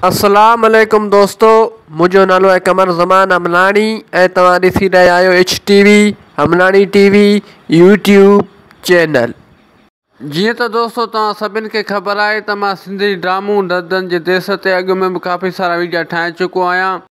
اسلام عليڪم دوستو منهنجو نالو آهي قمر زمان امناڻي ۽ توهان ڏسي رهيا آهيو H T V Amnani T V YouTube channel. جيئن ته دوستو توهان سڀني کي خبر آهي ته مان سنڌي ڊرامون دردن جي ديس تي اڳ ۾ به ڪافي سارا ويڊيا ٺاهي چڪو آهيان.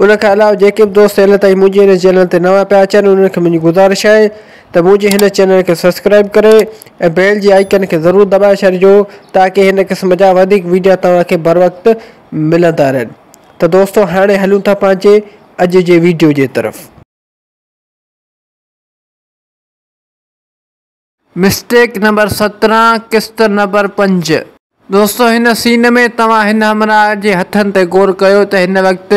ان کان علاوه جيڪي به دوست هيل تائين منهنجي هن چينل تي نوان پيا اچن انهن کي منهنجي گذارش آهي ته منهنجي هن چينل کي سبسڪرائيب ڪري ۽ بيل جي آئيڪن کي ضرور دٻائي ڇڏجو تاڪي هن قسم جا وڌيڪ ويڊيا توهان کي بروقت ملندا رهن ته دوستو هاڻي هلون ٿا پنهنجي اڄ جي ويڊيو جي طرف. مسٽيڪ نمبر سترهن قسط نمبر پنج. دوستو هن سين ۾ توهان هن همراهه جي هٿن تي غور ڪيو ته هن وقت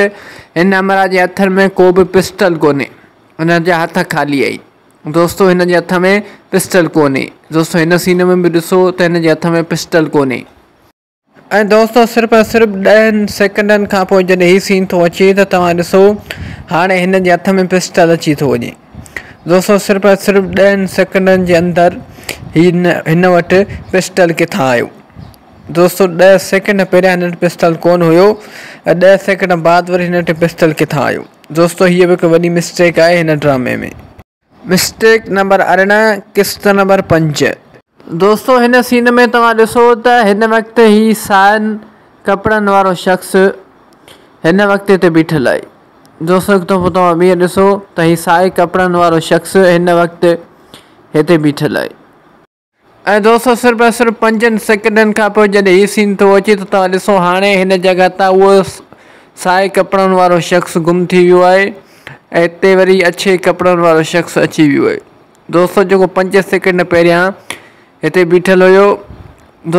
هن همراهه جي هٿن ۾ ڪو به پسٽل ڪونهي هن جا هٿ خالي آهن دوستو هن جي هٿ ۾ پسٽل ڪونهي دوستو هن سين ۾ به ڏسو ته هن جي هٿ ۾ پسٽل ڪونهي. ۽ دوستو صرف ۽ صرف ڏهن سيڪنڊن کان پوء جڏهن هي سين ٿو اچي ته توهان ڏسو هاڻي هن جي هٿ ۾ پسٽل اچي ٿو وڃي دوستو صرف ۽ صرف ڏهن سيڪنڊن جي اندر هي هن وٽ پسٽل ڪٿان آيو دوستو ڏهه سيڪنڊ پهريان هن وٽ پسٽل ڪون هيو ۽ ڏهه سيڪنڊ بعد وري هن وٽ پسٽل ڪٿان آيو دوستو هيء به هڪ وڏي مسٽيڪ آهي هن ڊرامي ۾ مسٽيڪ نمبر ارڙهن قسط نمبر پنج. دوستو هن سين ۾ توهان ڏسو ته هن وقت هي سائن ڪپڙن وارو شخص هن وقت هتي بيٺل آهي دوستو هڪ دفعو توهان ٻيهر ڏسو ته هي سائي ڪپڙن وارو شخص هن وقت هتي بيٺل آهي. ۽ دوستو صرف ۽ صرف پنجن سيڪنڊن کان پوء جڏهن هي سين ٿو اچي ته توهان ڏسو هاڻي هن جڳهه تان اهو سائي ڪپڙن وارو شخص گم ٿي ويو آهي ۽ اتي وري اڇي ڪپڙن وارو شخص اچي ويو آهي دوستو جيڪو پنج سيڪنڊ پهريان هتي بيٺل هيو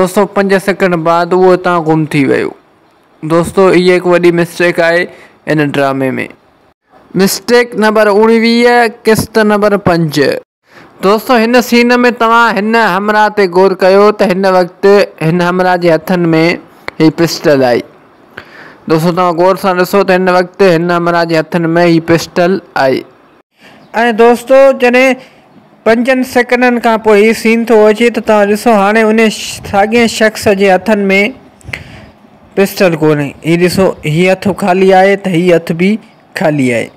دوستو پنج سيڪنڊ بعد اهو هتان گم ٿي ويو دوستو هي هڪ وڏي مسٽيڪ آهي ان ڊرامي ۾ مسٽيڪ نمبر اوڻويهه قسط نمبر پنج دوستو هن سين ۾ توهان هن همراهه تي غور ڪيو ته هن وقت هن همراهه جي هٿن ۾ هي پسٽل آهي دوستو توهان غور سان ڏسو ته هن وقت هن همراهه جي هٿن ۾ هي پسٽل آهي. ۽ دوستو جڏهن پنجن سيڪنڊن کان پوء هي سين ٿو اچي ته توهان ڏسو هاڻي انهي ساڳئين شخص جي هٿن ۾ پسٽل ڪونهي هي ڏسو هي هٿ خالي آهي ته هي هٿ به خالي آهي.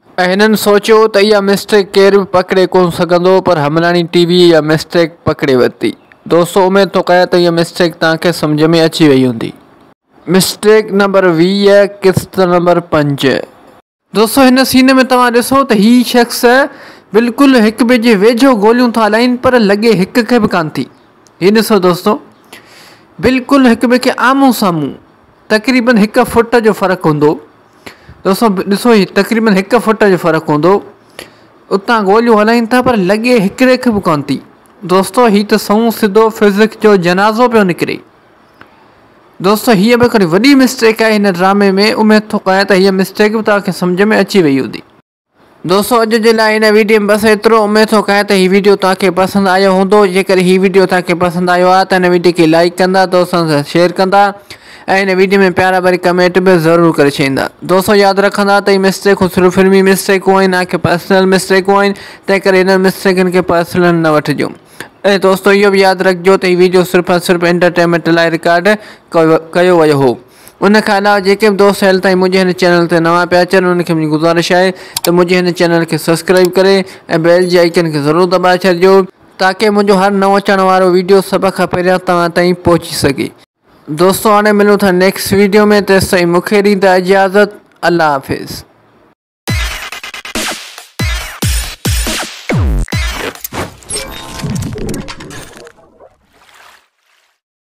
هنن سوچيو ته اها مسٽيڪ ڪير به پڪڙي ڪونه سگهندو پر همراڻي ٽي وي اها مسٽيڪ پڪڙي ورتي. دوستو اميد ٿو ڪريان ته اها مسٽيڪ توهان کي سمجهه ۾ اچي وئي هوندي. مسٽيڪ نمبر ويهه قسط نمبر پنج. دوستو هن سين ۾ توهان ڏسو ته هي شخص بلڪل هڪ ٻئي جي ويجهو گوليون ٿا هلائين پر لڳي هڪ کي به ڪانه ٿي. هي ڏسو دوستو بلڪل هڪ ٻئي کي آمهون سامهون. تقريبن هڪ فٽ جو فرق هوندو ڏسو ڏسو هي تقريبن هڪ فٽ جو فرق هوندو اتان گوليون هلائين ٿا پر لڳي هڪڙي کي به کوان ٿي دوستو هي ته سون سڌو فزڪس جو جنازو پيو نڪري دوستو هيء به هڪڙي وڏي مسٽيڪ آهي هن ڊرامي ۾ اميد ٿو ڪيان ته هيء مسٽيڪ به توهان کي سمجهه ۾ اچي وئي هوندي دوستو اڄ جي لاء هن ويڊيو ۾ بس ايترو اميد ٿو ڪيان ته هي ويڊيو توهان کي پسند آيو هوندو جيڪڏهن هي ويڊيو توهان کي پسند آيو آهي ته هن ويڊيو کي لائيڪ ڪندا دوستن سان شيئر ڪندا ۽ هن ويڊيو ۾ پيارا ڀري ڪمينٽ به ضرور ڪري ڇڏيندا دوستو ياد رکندا ته هي مسٽيڪون صرف فلمي مسٽيڪون آهن نا ڪي پرسنل مسٽيڪون آهن تنهن ڪري هنن مسٽيڪن کي پرسنل نه وٺجو ۽ دوستو اهو به ياد رکجو ته هي ويڊيو صرف ۽ صرف انٽرٽينمينٽ لاء رڪارڊ ڪيو ويو هو ان کان علاوه جيڪي به دوست هل تائين منهنجي هن چينل تي نوان پيا اچن انهن کي منهنجي گذارش آهي ته منهنجي هن چينل کي سبسڪرائيب ڪري ۽ بيل جي آئيڪن کي ضرور دٻائي ڇڏجو تاڪه منهنجو هر نئون اچڻ وارو ويڊيو سڀ کان پهريان توهان تائين پهچي سگهي. دوستو هاڻي ملون ٿا نيڪسٽ ويڊيو ۾ تيستائين مون کي ڏيندا اجازت الله حافظ.